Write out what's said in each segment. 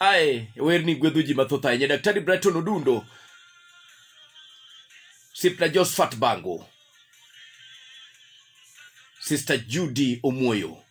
Aye, werni gwedho ji mathoth ahinya Daktari Brighton Odundo Sipna Josephat Bango Sister Judy Omoyo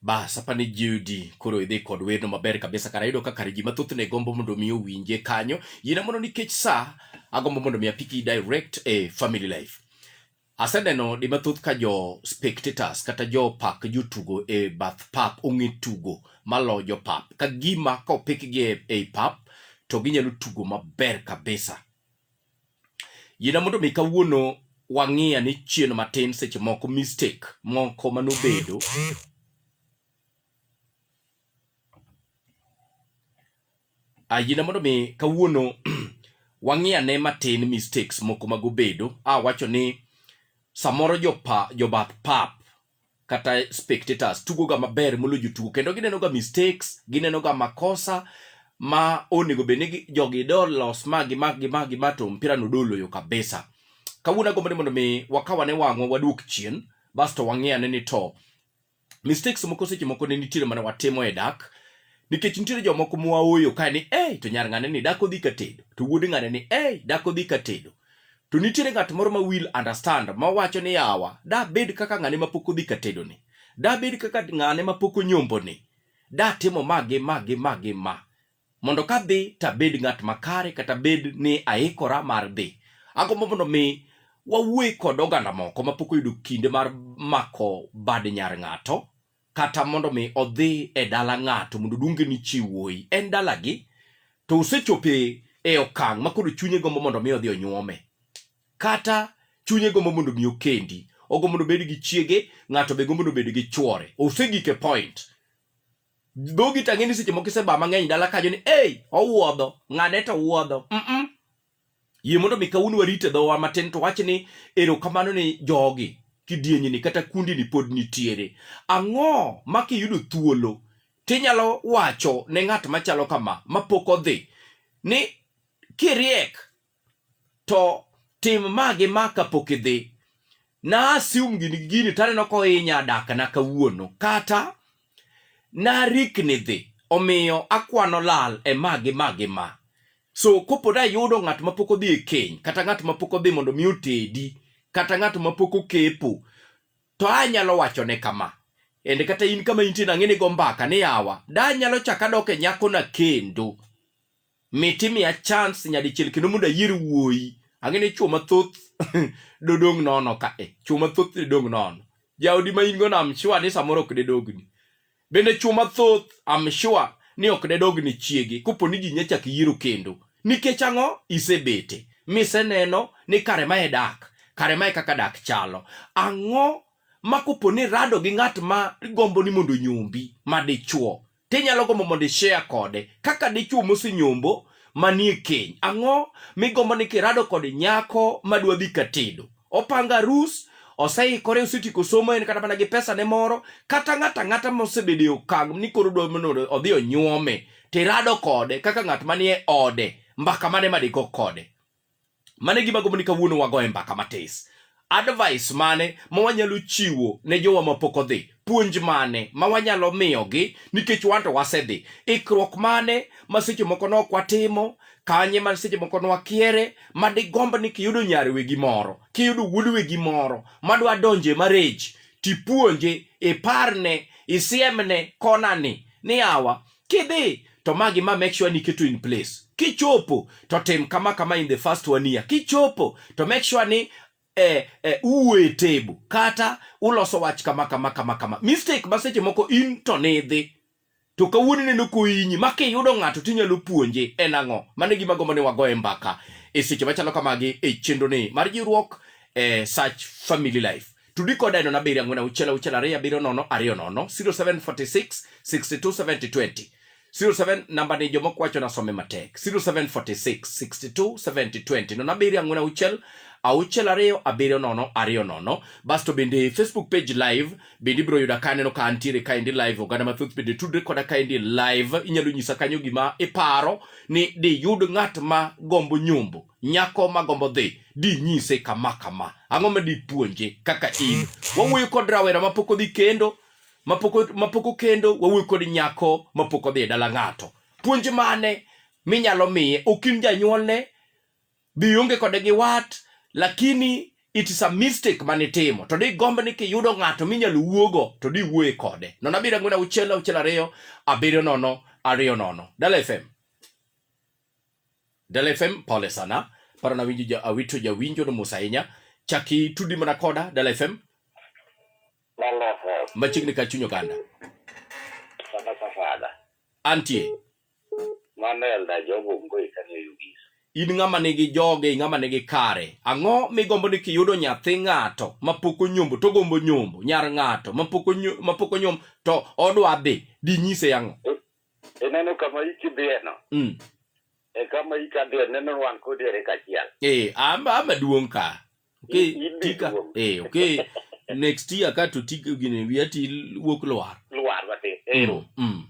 Bas, apani Judy, koro idhi kod werno maber kabisa kara yudo ka kare ji mathoth ne gombo mondo mi owinje kanyo. Yina mondo nikech sa, agombo mondo mi apiki direct e family life. Aseneno di mathoth ka jo spectators kata jo pak jotugo e bath pap ong'e tugo malo jo pap. Ka gima ka opikgi e, e pap to ginyalo tugo maber kabisa. Yiena mondo mi kawuono wang'iya ni chien matin seche moko mistake moko manobedo ayina mondo mi kawuono wang'iya ne matin mistakes moko magobedo awacho ni samoro jopa jobath pap kata spectators tugo ga maber moloyo jotugo kendo gineno ga mistakes gineno ga makosa ma onego bed ni jogi do los ma gi ma gi ma gi ma to mpira no doloyo kabisa kawuono agombo ni mondo mi wakawane wang'wa waduok chien basto wang'iyane ni to mistakes moko seche moko ne nitiere mana watimo e dak nikech nitiere jomoko mwaoyo kae ni ei to nyar ng'ane ni dak odhi ka tedo to wuod ng'ane ni ei dak odhi ka tedo To nitiere ng'at moro ma will understand ma wacho ni yawa, da bed kaka ng'ane ma pok odhi katedo ni. Da bed kaka ng'ane ma pok onyombo ni. Da timo ma gi ma gi ma gi ma. Mondo ka dhi to abed ng'at makare kata bed ni aikora mar dhi. Agombo mondo mi wawuoye kod oganda moko ma pok oyudo kinde mar mako bad nyar ng'ato. kata mondo mi odhi e dala ng'ato mondo oluonge ni chi wuoyi en dalagi to osechopo e e okang' ma koro chunye gombo mondo mi odhi onyuome kata chunye gombo mondo mi okendi ogombo mondo obed gi chiege ng'ato be gombo mondo obed gi chwore osegik e point dhogi tang'e ni seche moko iseba mang'eny dala kajo ni ei owuodho ng'ane to wuodho mm yie mondo mi kawuono warit e dhowa matin to wach ni erokamano ni jogi kidienyini kata kundini pod nitiere ang'o ma kiyudo thuolo tinyalo wacho ne ng'at machalo kama mapok odhi ni kiriek to tim ma gi ma kapok idhi na assume gini gini taneno kohinya dakna kawuono kata Narikni dhi, omiyo akwano lal e ma gi ma gi ma. So kopo da yudo ng'at ma pok odhi e keny, kata ng'at ma pok odhi mondo mi otedi, kata ng'at ma pok okepo, to anyalo wachone kama. Ende kata in kama intie nang'e ni go mbaka ni yawa, da anyalo chak adok e nyakona kendo. Mit imiya chance nyadichiel kendo mondo ayier wuoyi. Ang'e ni chwo mathoth dodong' nono ka e. Chwo mathoth dodong' nono. Jaodi ma in go no I'm sure ni samoro ok dedogni. Bende chwo mathoth I'm sure ni ok dedogni chiege kopo ni ji nyachak yiero kendo. Nikech ang'o? Isebete. Miseneno ni kare ma e dak. Kare ma e kaka dak chalo. Ang'o ma kopo ni irado gi ng'at ma gombo ni mondo onyombi ma dichwo tinyalo gombo mondo ishare kode kaka dichwo mosenyombo manie keny. Ang'o migombo ni kirado kod nyako madwa dhi katedo? Opanga arus, oseikore, osetieko somo, en kata mana gi pesa ne moro, kata ng'ato ang'ata mosebedo e okang' ni koro dwa mondo odhi onyuome, tirado kode kaka ng'at manie ode, mbaka mane madigo kode? Mano e gima gombo ni kawuono wagoye mbaka matis. Advice mane ma wanyalo chiwo ne jowa mapok odhi? Puonj mane ma wanyalo miyogi nikech wan to wasedhi? Ikruok mane ma seche moko ne ok watimo? Kanye ma seche moko ne wakiere? Ma digomb ni kiyudo nyar wegi moro, kiyudo wuod wegi moro madwa donjo e marriage, tipuonje, iparne, isiemne konani ni yawa, Kidhi to ma gi ma make sure ni keto in place. Kichopo to tim kama kama in the first one year. Kichopo to make sure ni eh, eh, uwe table kata uloso wach kama kama kama kama. Mistake ma seche moko in to nidhi to kawuono neno koinyi ma kiyudo ng'ato tinyalo puonje en ang'o mano gima gombo ni wagoye mbaka e seche machalo kamagi e chenro ni mar jiwruok e eh, search family life Tudi koda e nono abiriyo ang'wen auchiel auchiel ariyo abiriyo nono ariyo nono 0746 62 70 20 07 namba ni jomoko wacho nasome matek 0746 62 70 20 nono abiriyo ang'wen auchiel auchiel ariyo abiriyo nono ariyo nono basto bende facebook page live bende ibiro yuda ka aneno ka antiere kaendi live oganda mathoth bende tudre koda kaendi live inyalo nyisa kanyo gima iparo ni diyud ng'at ma gombo nyombo Nyako ma gombo dhi dinyise kama kama. Ang'o ma dipuonje kaka in? Wawuoyo kod rawera ma pok odhi kendo, ma pok o- ma pok okendo, wawuoyo kod nyako ma pok odhi e dala ng'ato. Puonj mane minyalo miye? Ok in janyuolne, be ionge kode gi wat, lakini it is a mistake mane itimo. To digomb ni kiyudo ng'ato minyalo wuogo to diwuoye kode. Nono abiriyo ang'wen auchiel auchiel ariyo abiriyo nono ariyo nono. Dala FM. Dala FM pole sana. Paro na winjo ja awito ja winjo no musa inya. Chaki tudi mana koda Dala FM. Dala FM. Machigni ka chunyo kanda. Sana safada. Antie. Manel da jogo mboi kani yugis. In ng'ama nigi joge, ng'ama nigi kare. Ang'o migombo ni kiyudo nyathi ng'ato mapoko nyombo to gombo nyombo, nyar ng'ato mapoko nyombo, mapoko nyombo to odwa dhi, dinyise ang'o? ineno kama iki dhiyeno mm. e kama ika dhiye neno wan kodi ere kachiel eh amba ama duong ka okay In- in be tika duong. eh okay next year ka to tika gini wiya ti wuok lwar lwar wate ero mm. mm.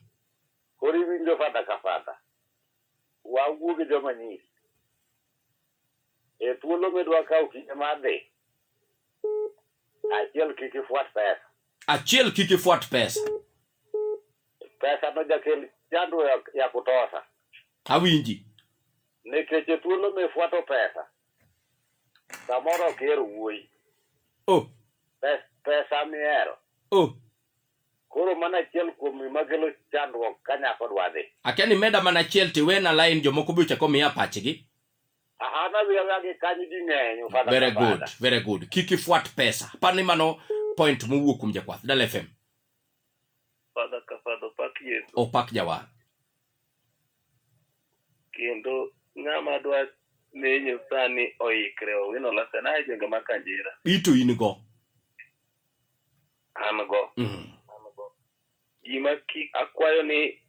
koro iwinjo fadha ka fadha wawuog e joma nyiri e thuolo midwa kawo kinde mar dhi achiel kik ifwat pesa achiel kik ifwat pesa pesa no jakel chandruok ya kutosha Awinji. nikech e thuolo mifuato pesa samoro ok ihero wuoyi Oh, Pes- pesa mihero oh. koro mana achiel kuom gima kelo chandruok ka nyako dwa dhi Akia ni meda mana achiel tiwena line jomoko be ochako miya pachgi. aha nadhi awia gi kanyo ji ng'eny ofada Very ka good, fada. very good. Kik ifuat pesa. Aparo ni mano point mowuok kuom jakwath Dala FM. Father ka Father opak Yesu. opak jawar Kendo ng'ama dwa menyo sani oikre owino lasa na jenge ma kanjira. ito in go An go. Mhm. Gima ki akwayo ni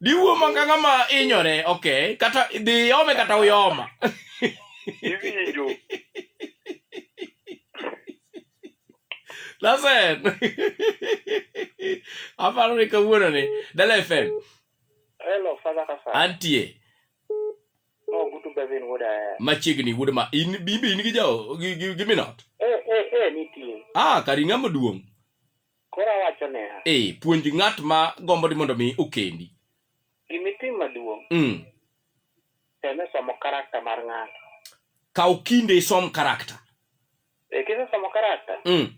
Diwuo manga ng'ama inyore, okay. Kata dhi yome kata uyoma. Iwinjo. Lasen. Aparo ni kawuono ni. Dala FM. Hello, Father Kasa. Antie. Oh, good to be in wood. Eh. Machiegni wood ma in bibi in gi jawo gi gi minot. Eh eh eh nitie. Ah, kari ng'ama duong'. Koro awacho niya, Ee, puonj ng'at ma gombo ni mondo mi okendi. gima itim maduong', Mm. tem e somo karakta mar ng'ato. Kaw kinde isom karakta. E kisesomo karakta, Mm.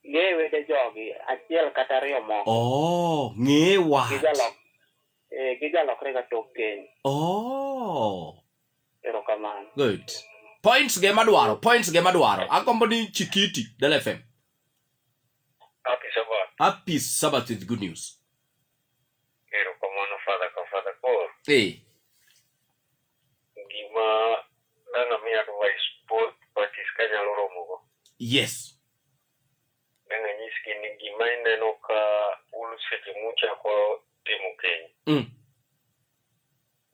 ng'e wede jogi achiel kata ariyo moko Oh, ng'e wach. gijalok eh, gijalokrega tok keny. Oh. Erokamano. Good. Points ge madwaro, points ge madwaro. Agombo ni Chikiti, Del FM. Happy Sabbath. Happy Sabbath with good news. Erokamano Father ka Father Paul. Eh. Gima nana mi advice both parties kanyalo romogo. Yes. Nana nyisgi ni gima ineno ka ulu seche muchako timo keny. Mm.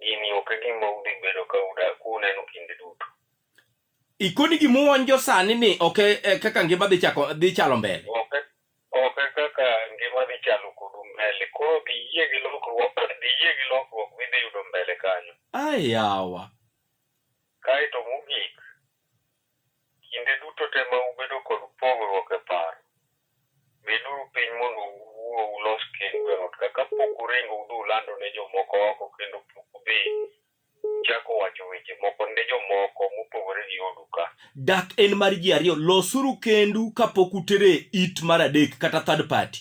Gini ok e gima udhi bedo ka uda- kuneno kinde duto. Ikoni gimuwonjo sani ni ok e- e kaka ngima dhi chako dhi chalo mbele. Ok e- ok e kaka ngima dhi chalo kodu mbele. Koro dhi yie gi lokruok, dhi yie gi lokruok midhi yudo mbele kanyo. Ayawa. Kae to mogik, Kinde duto te ma ubedo kod pogruok e paro, beduru piny mondo uwuo ulos kendu e ot ka kapok uringo udhi ulando ne jomoko oko kendo pok udhi uchako wacho weche moko ne jomoko mopogore gi odu ka. Dak en mar ji ariyo, losuru kendu kapok utere it mar adek kata third party.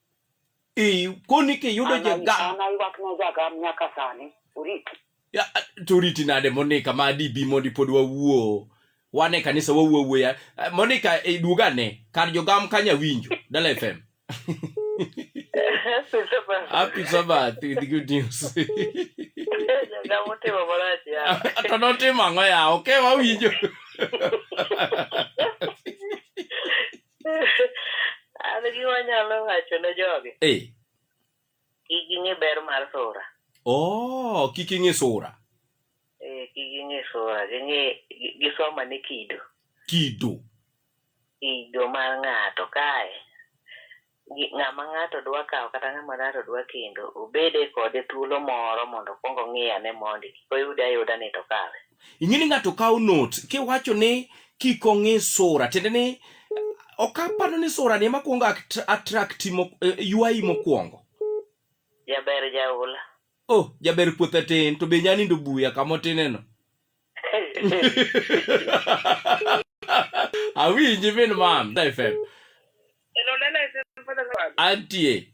Eh, koni kiyudo jagam. An aywak ne jagam nyaka sani. Orit. Ya, to oriti nade Monica ma dibi mondi pod wawuo. Wan e kanisa wawuo awuoya. Eh, Monica e duoga ne kar jogam kanya winjo. Dala FM. Happy Sabbath with good news. Jagam otimo marach ya. To notimo ang'o ya? Okay, wawinjo. an gima nyalo wacho ne jogi e kik ing'e ber mar sura oh kik ing'e sura Eh, kik ging'e sura ging'e gi- gisom ane kido kido kido mar ng'ato kae gi- ng'ama ng'ato dwa kawo kata ng'ama ng'ato dwa kendo obede kode thuolo moro mondo okwong ong'iye ane mondi kik oyude ayuda ni to kawe Ing'e ni ng'ato kawo notes kiwacho ni kik ong'i sura, tiende ni ok aparo ni sura ni ema kwongo attract eh, ywayi mokwongo. Jaber jaula. Oh, jaber puothe tin to be nyanindo buya kama otineno. Awinji min mam, FM. Antie.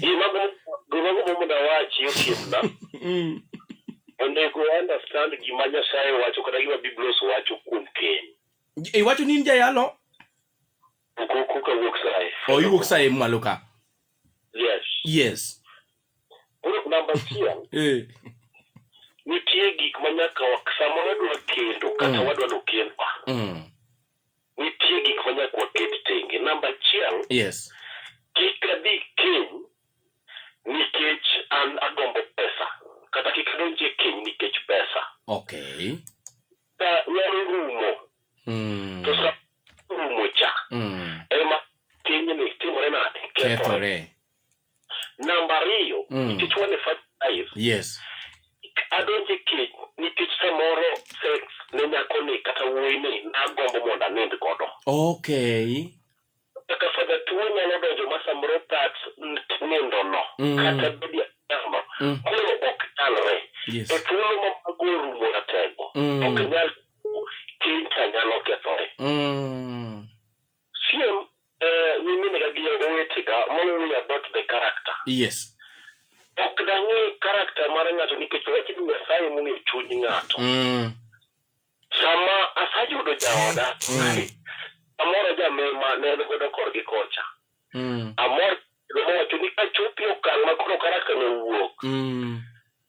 gima gomo mondo awachi osiepna mm. onego understand gima nyasaye wacho kata gima biblos wacho kuom keny iwacho ni in jayalo koka wuok saye o iwuok saye malo ka yes yes koro namba achiel eh. nitie gik ma nyaka samoro wadwa kendo kata mm. wadwa nokendwa mm. nitie gik ma nyaka waket tenge. Namba achiel, Yes. kik adhi keny nikech an agombo pesa, kata kik adonj e keny nikech pesa. Okay. Ka nyalo rumo, Mm. to sa rumo cha, Mm. ema kenyni timore nade? Kethore. Namba ariyo, Mm. nikech wan e first life, Yes. adonjo e keny nikech samoro sex ne nyakoni kata wuoyini nagombo mondo anind godo. Okay. Kaka fadha tuo nyalo donjo ma samoro that nindono Mm. kata bedi achamo Mm. koro ok nyalre. Yes. E thuolo ma mago orumo ratego, Mm. ok nyal keny cha nyalo kethore. Mm. Siem eh, nyiminega gi owetega mawuoyo about the character. Yes. Ok dang'e character mar ng'ato nikech wach ni Nyasaye mong'e chuny ng'ato. Mm. Sama asayudo jaoda, Mm. amoro jamema ne en godo korgi kocha. Mm. Amor mowacho ni kachopi okang' ma koro character no wuok. Mm.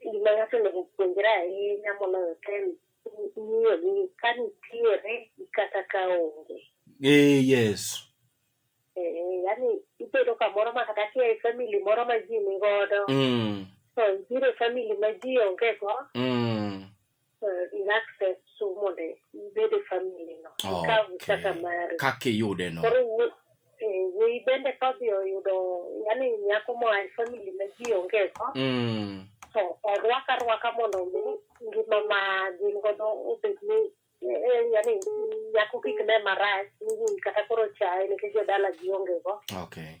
gima ng'ato onego puonjre ahinya moloyo te en ng'iyo gi ka nitiere gi kata ka onge. Eh, yes. Eh, yani ibedo kamoro ma kata kia e family moro ma ji ni godo, Mm. to ibiro e family ma ji onge go, Mm. eh, in access to mondo ibed e family no ikaw Okay. kaka mari kaka iyude no koro wuo- eh, wuoyi bende kodhi oyudo yani nyako moa e family ma ji onge go Mm. to orwak arwaka mondo mi ngima ma gin godo obed ni eh, eh, yani nyako kik ne marach ni wuoyi kata koro chaye nikech jodala ji onge go okay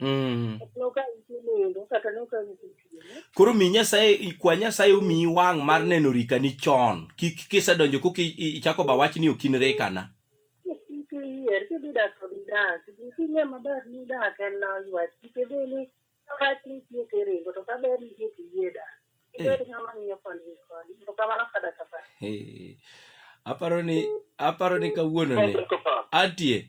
Mm. Koro mi Nyasaye kwa Nyasaye omiyi wang' mar neno rikani chon. Kik kisedonjo koka i- i- ichako ba wach ni ok in rekana. Eh. Aparo ni aparo ni kawuono ni atie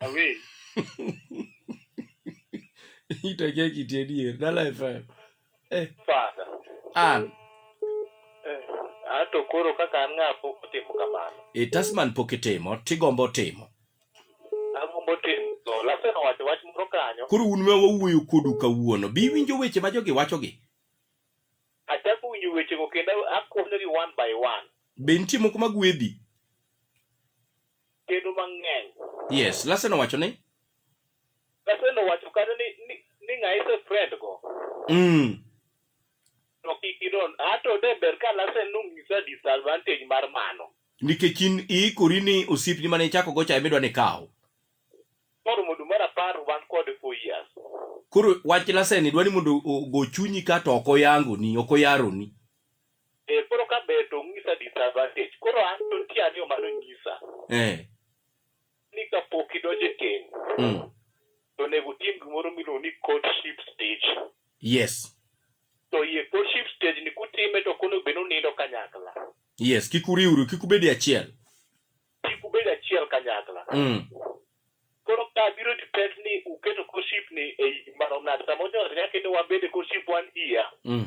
Away. Itakia kiti adier. Dala FM. Eh. Fada. An. Eh. Ato koro kaka an ng'a pok otimo kamano. E Tasman pok itimo, tigombo timo. Agombo timo. To lasen owacho wach moro kanyo. Koro un ma wawuoyo kodu kawuono, bi winjo weche ma jogi wachogi. Achako winjo wechego kendo akonyogi one by one. Be nitie moko magwedhi? kendo mang'eny. Yes, Larsen owacho ni? Larsen owacho kata ni, ni, ni ng'a ise friend go. Mm. To kik idon. Ato de ber ka Larsen nonyisa disadvantage mar mano. Nikech in iikori ni osiepni mane ichako go cha ema idwa ni ikaw. Koro mondo mar apar wan kode for years. Koro wach Larsen idwa ni mondo ogo chunyi ka to ok oyangoni, ok oyaroni. Eh, koro ka ber to ung'isa disadvantage. Koro an to nitie ang'eyo mano nyisa Eh. ni ka pok idonjo e keny Mm. to onego utim gimoro miluongo ni courtship stage. Yes. To iye courtship stage ni kutime to kono bed ni unindo kanyakla. Yes, kik uriwru, kik ubedi achiel. Kik ubed achiel kanyakla. Mm. Koro ka biro depend ni uketo courtship ni e i mano ng'ato. Samoro nyaka kendo wabed e courtship one year. Mm.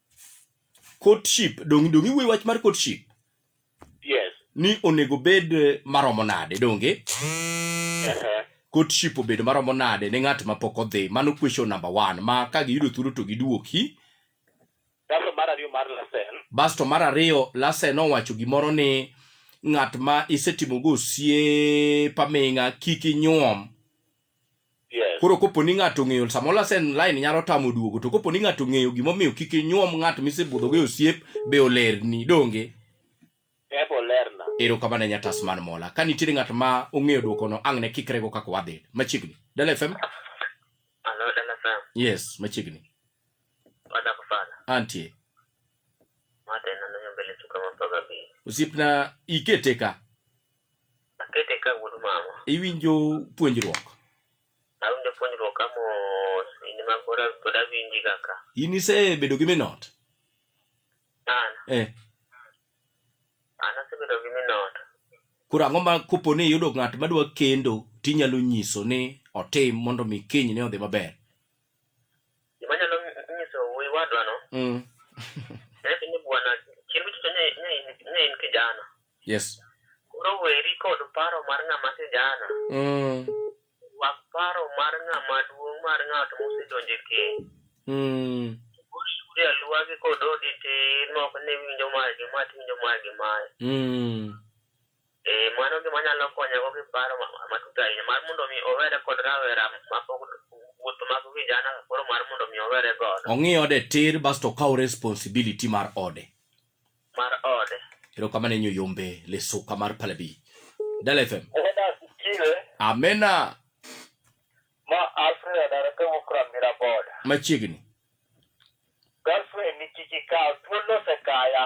courtship donge donge iwuoyo wach mar courtship yes ni onego bed maromo nade donge uh-huh. courtship obed maromo nade ne ng'at ma pok odhi mano question number one ma ka giyudo thuolo to giduoki kaso mar ariyo mar lasen basto mar ariyo lasen owacho gimoro ni ng'at ma isetimogo osiep aming'a kik inyuom Yes. koro kopo ni ng'ato ong'eyo samoro asen line nyalo tamo duogo to kopo ni ng'ato ong'eyo gimomiyo kik inyuom ng'at misebudhogo e osiep be olerni donge Ebo lerna. ero kamano nyatas man mola ka nitiere ng'at ma ong'eyo dwokono ang' ne kikrego kaka wadhi machiegni dala fm Hello, LFM. yes machiegni Wadak sana. antie Mate na nanyo mbele chuka mapaga bi. osiepna ikete ka Akete ka wuod mama. Iwinjo puonjruok? Awinjo puonjruok ka mos, in ma pod pod awinji kaka. In isebedo gi minot? An, Eh, an asebedo gi minot. koro ang'o ma kopo ni iyudo ng'at madwa kendo tinyalo nyiso ni otim mondo mi keny ne odhi maber? Gima nyalo nyiso wuoyi wadwa no. Mm. Nek ni bwana chieng' chicho ne ne in kijana. Yes. Koro weri kod paro mar ng'ama kijana. Mm. Wak paro mar ng'ama duong' mar ng'at mosedonje keny. Mm. Kuri aluwa gi kod odi ti nok ni winjo mae gi mae ti winjo mae gi mae. Mm. Eh, mano gima nyalo konyago gi paro ma- ma- matut ahinya mar mondo mi owere kod rawera mapok wuoth mag vijana koro mar mondo mi owere godo ong'i ode tir basto okaw responsibility mar ode mar ode erokamano enyo yombe lesuka mar palabi dala fm Eda sikile amena ma Alfred Arake Wukram Miraboda. machiegni Girlfriend ni kiki kaw thuolo osekaya.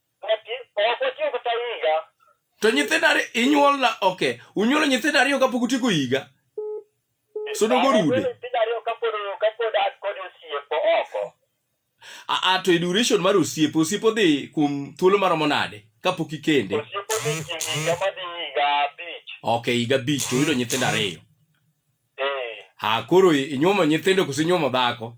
Ati, ok otieko ta higa. To nyithindo ariyo inyuol na okay. Unyuolo nyithindo ariyo kapok utieko higa. Sodo go rude. Nyithindo ariyo kapod kapod an kod osiepo oko. A, a to e duration mar osiepo, osiepo dhi kuom thuolo maromo nade kapok ikende? Osiepo dhi kind higa madhi higa abich. Okay, higa abich to uyudo nyithindo ariyo. Eh, Ha, koro i- inyuomo nyithindo koso inyuomo dhako?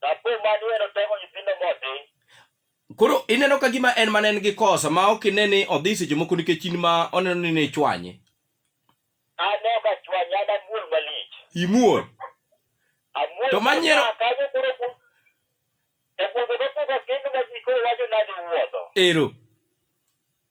Dapo mani en otego nyithindo modhi. Koro ineno ka gima en mana en gi kosa ma ok ine ni odhi seche moko nikech in ma oneno ni ne ichwanye. An ok achwanye, an amuol malich. Imuol. Amuol To manyiero- kaka kanyo koro ku- e gwenge mopogore kendo ma ji koro wacho nade wuotho. Ero.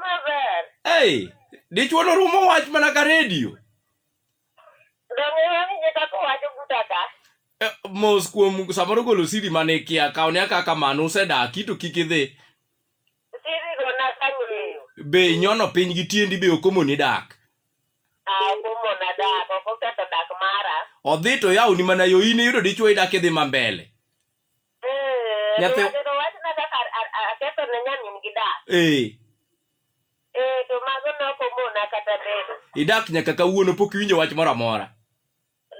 Maber. Hey, dichwo norumo wach mana ka redio. Eh, mos kuom samoro golo siri mane ikia kaw ne kaka mano usedaki to kik idhi be inyono piny gi tiendi be okomoni dak odhi to yawoni mana yo in iyudo dichwo idak idhi ma mbele Eh, Nyathi- Nyathi wachna kaka a- a- a- aketho ne nyamin gi dak. ee Eh, to mago ne ok omona kata bedo. idak nyaka kawuono pok iwinjo wach moro amora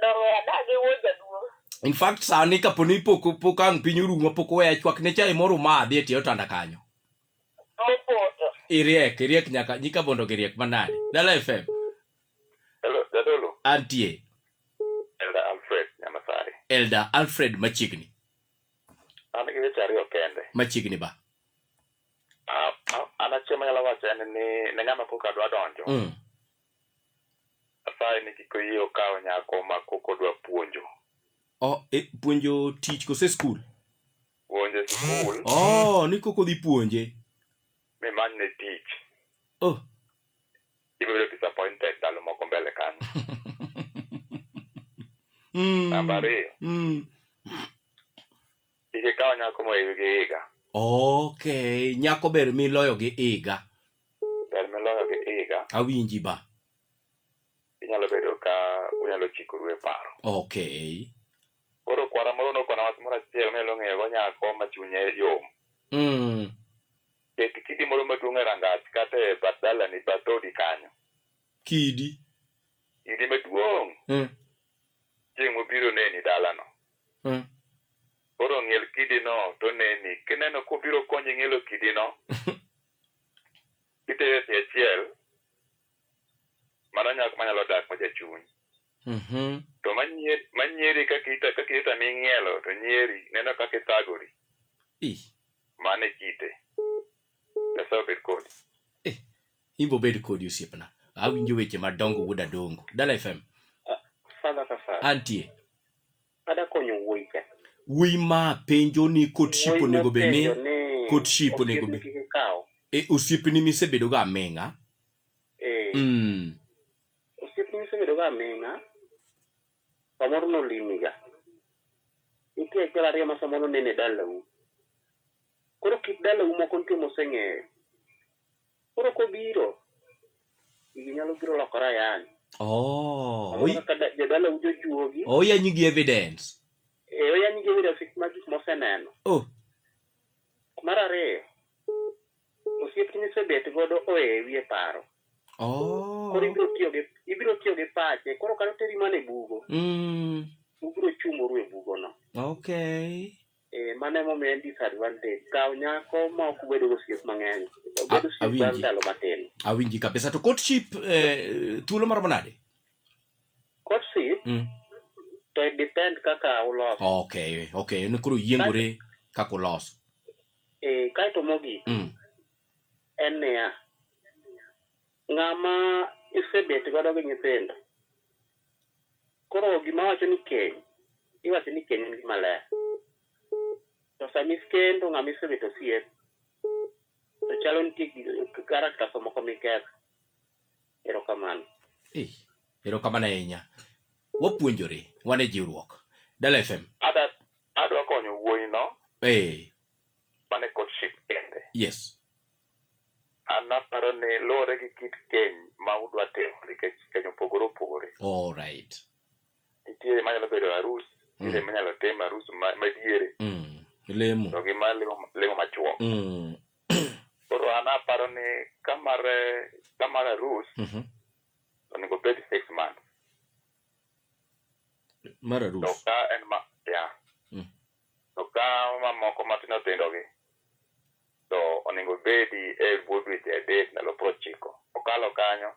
Donge adak gi wuod jaduong'. in fact sani kaponi pok pok ang' piny orumo pok weya chwak ne chai moro madhi e tie otanda kanyo Mopoto. iriek iriek nyaka nyika bondo giriek manade dala fm Hello, Jadolo. Antie. Elder Alfred Nyamasari. Elder Alfred machiegni. An gi weche ariyo kende. Machiegni ba. Ah, ah, an achiel manyalo wacho en ni ne ng'ama kok adwa donjo. Mm. Asaye ni kik oyie okaw nyako ma kok odwa puonjo. Oh, e, puonjo tich kose skul? Puonjo skul. Oh, ni kok odhi puonje. Mi manyne tich. Oh. ibiro bedo disappointed ndalo moko mbele kanyo Mm. namba ariyo Mm. kik ikaw nyako mohewi gi higa Okay, nyako ber miloyo gi iga. ber miloyo gi higa Awinji ba. inyalo bedo ka unyalo chikoru e paro Okay. koro kwara moro nokona wach moro achiel minyalo ng'eyogo nyako ma chunye yom Mm. Ket kidi moro maduong' e rangach kata e bath dalani, bath dhoodi kanyo. Kidi. Kidi maduong'. Mm. Chieng' mobiro neni dalano. Mm. Koro ng'iel kidino to neni. Kineno kobiro konyi ng'ielo kidino, itere tie achiel, mano nyako manyalo dak ma jachuny Mhm. to manyieri manyieri kaka ita kaka ita ming'ielo to nyieri neno kaka ithagori Ih, mano e kite nyasaye obed kodi imbo bed kodi osiepna awinjo weche madongo wuod adongo dala fm Father Safari. antie Ada konyo wuoyi ka. Wuoyi ma penjo ni kot ship onego be ni kot ship onego be. E osiepni misebedo ga aming'a. Eh. Mm. Osiepni misebedo ga aming'a. Samoro nolimi ga. Nitie achiel ariyo ma samoro nene dalau. Koro kit dalau moko nitie moseng'eyo. Koro kobiro, gigi nyalo biro lokore ayany. Oh, Samoro kaka da- jadala ujo juogi, oyanyi gi evidence. e oyany gi evidence ma gik moseneno. Oh, Mar ariyo, osiep misebet godo oewi e paro. oh. Koro ibiro tiyo gi ibiro tiyo gi pache. Koro kata oteri mana e bugo, Mm, ubiro chumoru e bugono. okay. Eh, mano emomiyo en disadvantage. Kaw nyako ma ok bedo gosiep mang'eny. A- Obed osiep bang' awinji. ndalo matin. awinji kabisa to courtship eh, thuolo maromo nade Courtship mm. to it depend kaka uloso. okay okay en koro yiengore kaka uloso Eh, kaeto mogik mm. en niya, Ng'ama isebet godo gi nyithindo, koro gima wacho ni keny, iwacho ni keny en gima ler. To sama ikendo ng'ama isebet osiep, to chalo nitie characters moko miketho. Erokamano. Ei, erokamano ahinya. Wapuonjore, wan e jiwruok. Dala FM. Ada adwa konyo wuoyino Ee, mane courtship kende. yes. An aparo ni luwore gi kit keny ma udwa timo nikech keny opogore opogore. All right. Nitie ma nyalo bedo arus, nitie ma nyalo tim arus ma ma diere Mm. Lemo. to gi ma lemo lemo machuok. Mm. Koro an aparo ni ka mar eh, ka mar arus Mhm. onego obed six months Mar to arus. ka en ma ya To ka mamoko matindo tindogi to onego ibedi e bwo dweche adek ndalo piero ochiko. Kokalo kanyo,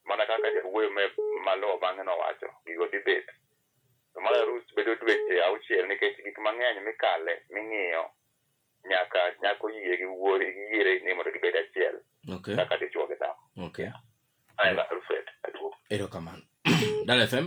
mana kaka jawuoyo me maluwo bang'e nowacho, gigo dhi bet. To mar arus bedo dweche auchiel nikech gik mang'eny mikale, ming'iyo nyaka nyaka oyie gi wuor gi yiere ni mondo gibed achiel Okay. kaka dichwo gi dhako. Okay. Aela Alfred Aduong'. Erokamano. Dala FM.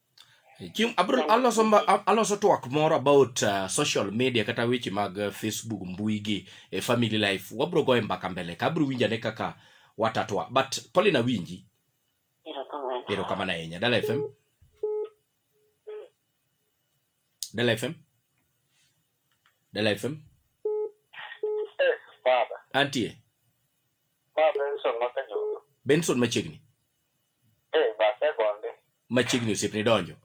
Chieng' abro aloso mba- a- aloso twak moro about uh, social media kata weche mag uh, Facebook mbui gi e family life wabro goye mbaka mbele ka abro winjane kaka watatwa but Pauline awinji Erokamano. erokamano ahinya Dala FM Dala FM Dala FM Eh, baba, antie baba Benson mapenjo. Benson machiegni Eh, base gonde. Machiegni osiepni donjo.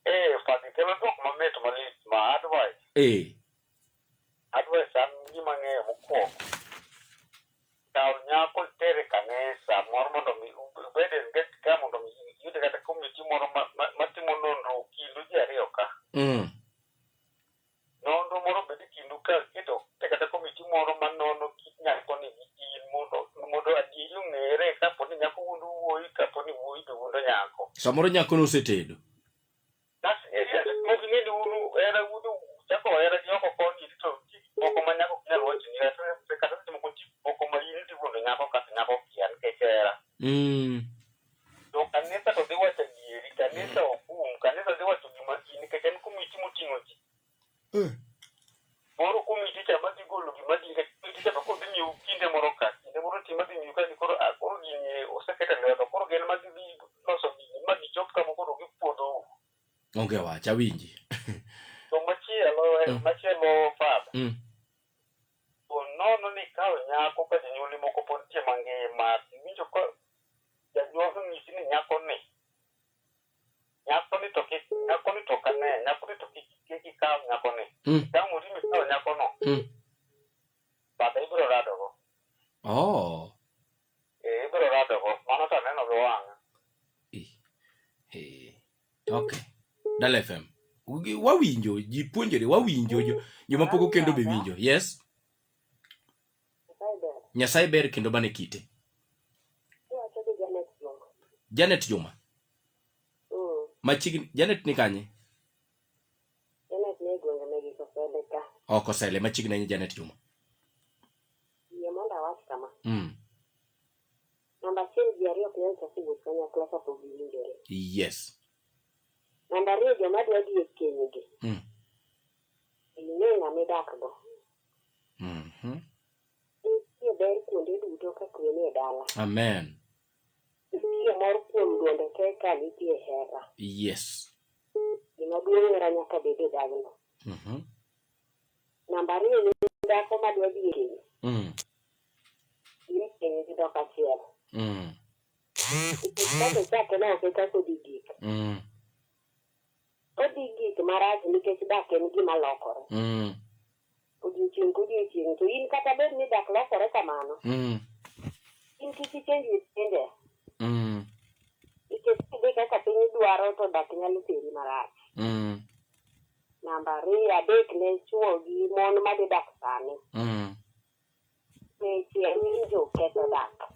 Eh, fadhi kelo dwok mamit malit ma advice. Eh. Advice an gima ng'eyo mokwongo. Kaw nyako itere kanisa moro mondo mi ubed engaged ka mondo mi iyud kata committee moro ma- ma- matimo nonro kindu ji ariyo ka. Mm. Nonro moro obed e kindu ka iketo e kata komiti moro ma nono kit nyakoni gi in mondo mondo adieri ong'ere kapo ni nyako wuondo wuoyi kapo ni wuoyi be wuondo nyako. Samoro nyakono osetedo. Bas e e mok ing'e ni uru hera wuondo chako hera gi oko koni to nitie gik moko ma nyako ok nyal wacho ni kata kata seche moko nitie gik moko ma in idhi wuondo nyako kasto nyako okia nikech hera. Mm. To kanisa to dhi wacho adieri, kanisa ok um, kanisa dhi wacho gima ji nikech en komiti moting'o ji. Eh. Moro komiti cha ma dhi golo gima ji nikech komiti cha to koro dhi miyo kinde moro ka, kinde moro ti ma dhi miyo ka ni koro ah, koro gini oseket e lwedo, koro gin ma gidhi loso gini ma gichop kama koro gipuodho. Onge wach awinji. To machielo, eh, Mm. machielo father, Mm. To nono ni ikawo nyako ka jonyuolni moko pod nitie mangima, to iwinjo ka janyuol onyisi ni nyakoni, nyakoni to kik, nyakoni to ok ane, nyakoni to kik kik ikaw nyakoni. Mm. Itamori mikawo nyakono, Mm. bata ibiro radogo. Oh. Eh, ibiro radogo. Mano to aneno gi wang'a. Eh. Okay. Dala FM. Wawinjo, ji puonjore, wawinjo, joma poko kendo be winjo. Yes? Nyasaye ber kendo bane kite. Janet Juma. Mm. Machiegni Janet ni kanye? Janet ni gwenge ne giko sele ka. Oko oh, sele machiegni ni Janet Juma. Yie mondo awach kama. Mm. Namba achiel ji ariyo ok nyal chako wuoth kanyakla kapok giwinjore. Yes. Namba ariyo joma dwa dhi e kenygi, Mm. ing'e ng'ama idakgo. Mhm. Nitie ber kuonde duto ka kwe nie dala. Amen. Nitie mor kuom duonde te ka nitie hera. Yes. Gima duong' hera nyaka bed e dagno. Mhm. Namba ariyo ni dhako madwa dhi e keny, Mm. in piny gi dhok achiel Mm. kaka ochake ne ake kaka odhi gik Mm. odhi gik marach nikech dak en gima lokore Mm. odiochieng' ka odiochieng' to in kata bed ni dak lokore kamano Mm. in kik ichenj with pinde Mm. nikech kidhi kaka piny dwaro to dak nyalo teri marach Mm. Namba ariyo, adek ne chwo gi mon madhi dak sani. Mm. Weche winjo ketho dak.